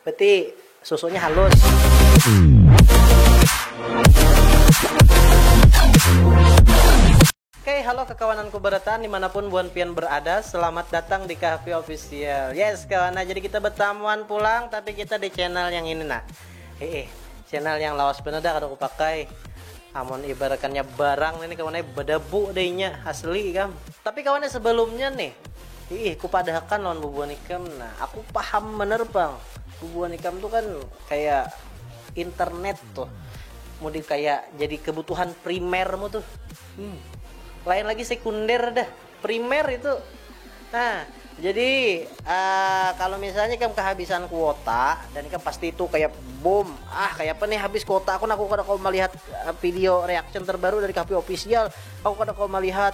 Berarti susunya halus. Oke, halo kekawananku berataan dimanapun buan pian berada Selamat datang di Kahfi Official Yes kawan, nah jadi kita betamuan pulang Tapi kita di channel yang ini nah Heeh, channel yang lawas bener dah kada kupakai Amun ibaratannya barang ini kawan, eh bedebu deh inya, asli kam Tapi kawan sebelumnya nih Iih, kupadahakan lawan bubuhan ikam. Nah, aku paham banar pang. Bubuhan ikam tu kan kaya internet tuh. Mudi kaya jadi kebutuhan primermu tuh. Hmm. Lain lagi sekunder dah. Primer itu. Nah, jadi uh, kalau misalnya ikam kehabisan kuota dan ikam pasti itu kayak bom. Ah, kayak apa nih habis kuota aku, nah, aku kada kau melihat eh, video reaction terbaru dari KP official. Aku kada kau melihat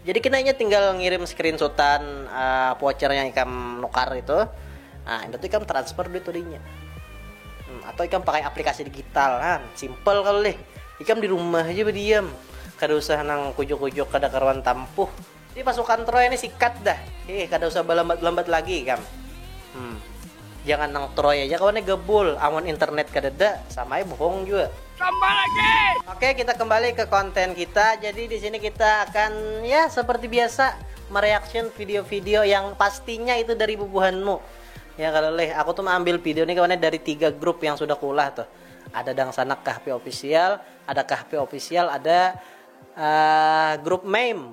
Jadi kena inya tinggal ngirim screenshotan voucher yang ikam nukar itu, nah imbah tu ikam transfer duit tu dinya. Hmm, atau ikam pakai aplikasi digital, nah simple kalu lih. Ikam di rumah haja badiam, kada usah nang kujuk-kujuk kada karuan tampuh. Jadi pasukan Troy ni sikat dah, hih kada usah balambat-lambat lagi ikam. Hmm. Jangan nang troy aja kawan nih gebul, amun internet kadada sama ai bohong jua. Tambah lagi. Oke kita kembali ke konten kita, jadi di sini kita akan ya seperti biasa mereaction video-video yang pastinya itu dari bubuhanmu. Ya kalau leh aku tuh mengambil video nih kawannya dari tiga grup yang sudah kulah tuh. Ada Dangsanak Kahpi Official, ada Kahpi Official, ada uh, grup Meme.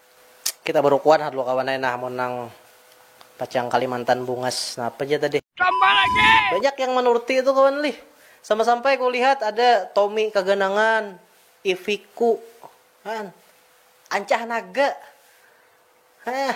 Kita barukuan ha dua kawan ai nah amun nang pacang kalimantan bungas napa ja tadi. Banyak yang manurti tu kawan lih. Sama sampai ku lihat ada Tommy kaganangan, Iviku, kan. Ancah naga. Hah.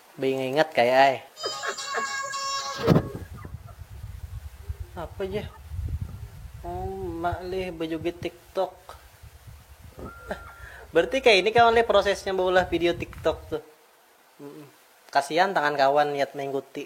Beingat ingat kaya ai. Apa ja? Oh, mak lih bejugit tiktok. Berarti kayak ini kawan lih prosesnya baulah video tiktok tuh. Kasihan tangan kawan niat mengikuti.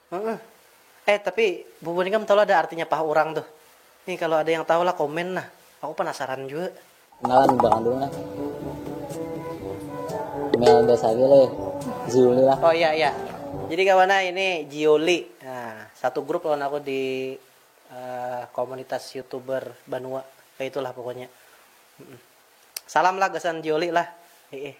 Heeh. Eh tapi bubuhan ikam tahu lah ada artinya paha urang tuh? Nih kalo ada yang tahu lah komen nah. Aku penasaran jua. Kenalan budak kandung nah. Mel Dasari le, Ziuli lah. Oh iya iya. Jadi kawan ah ini Jioli. Nah, satu grup lawan aku di uh, komunitas youtuber Banua. Kayak itulah pokoknya. Salam lah gasan Jioli lah. Heeh.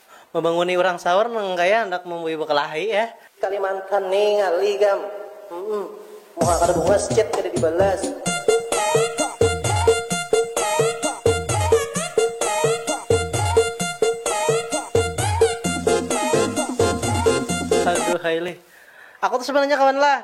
Mabanguni urang saur nang kaya handak mambui bakalahi eh. Kalimantan ni ngalih gam. Humm. Muha kada buas, chat kada dibalas. Aduhai lih. Aku tu sabanarnya kawan lah.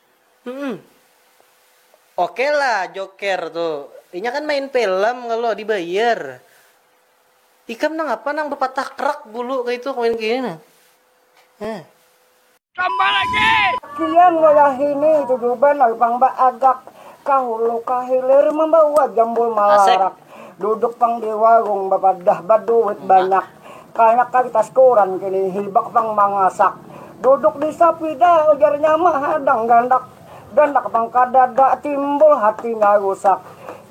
Hmm. Oke lah Joker tu. Inya kan main film kalau dibayar. Ikam nang apa nang bepatah krak bulu kaya itu kawin kini nah. Heh. Tambah lagi. Kian wayahini tujuban lalu pang baagak ka hulu ka hilir mambawa jambul malarak. Duduk pang di warung bapadah baduit banyak. Kaya ka di tas koran kini hibak pang mangasak. Duduk di sapida ujarnya mahadang gandak. Gandak pang kadada timbul hatinya rusak.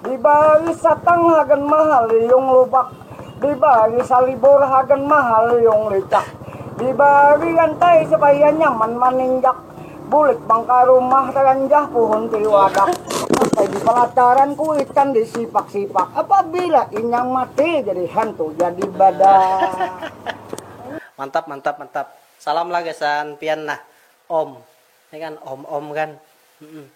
Dibari satang hagan mahaliung lubak. Dibari salibur hagan mahaliung licak. Dibari rantai supaya nyaman maninjak. Bulik pang ka rumah talanjah puhun tiliwadak sampai di palataran kuitan di sipak sipak apabila inyang mati jadi hantu jadi badak. Mantap mantap mantap salam lah gasan pian nah om, nih kan om om kan.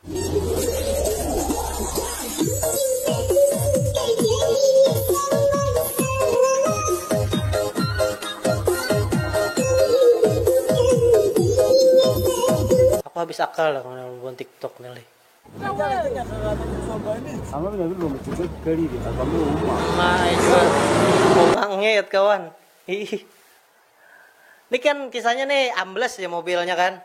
Aku habis akal dah kawan babuhan tiktok ni lih. Bangit kawan. Nih kan kisahnya nih ambles ja mobilnya kan.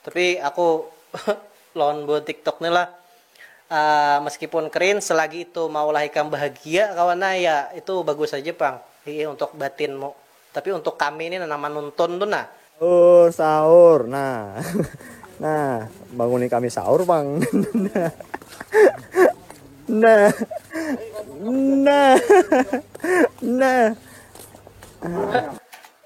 Tapi aku lawan buhan tiktok ni lah uh, meskipun keren selagi itu maulah ikam bahagia kawan nah ya itu bagus aja pang hiih untuk batinmu tapi untuk kami ini nang manuntun tu nah sahur sahur nah nah banguni kami sahur pang nah nah nah nah, nah.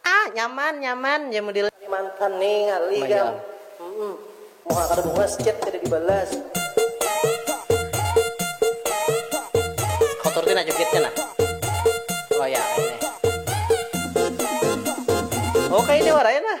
Ah nyaman nyaman ja mudil. Ini mantan ni ngalih gam humm muha kada bungas chat kada di balas. Kotor tu nah jugitnya nah oh ya ini. Oh kaya ini wara ya nah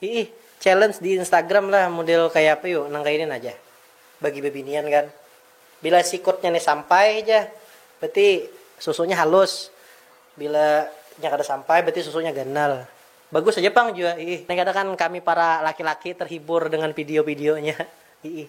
Iih, challenge di Instagram lah model kaya apa yu, nang kaya ini nah jah. Bagi bebinian kan. Bila sikutnya ni sampai ja, berarti susunya halus. Bila nya kada sampai, berarti susunya ganal. Bagus aja pang jua, iih. Nih kada kan kami para laki-laki terhibur dengan video-videonya, iih.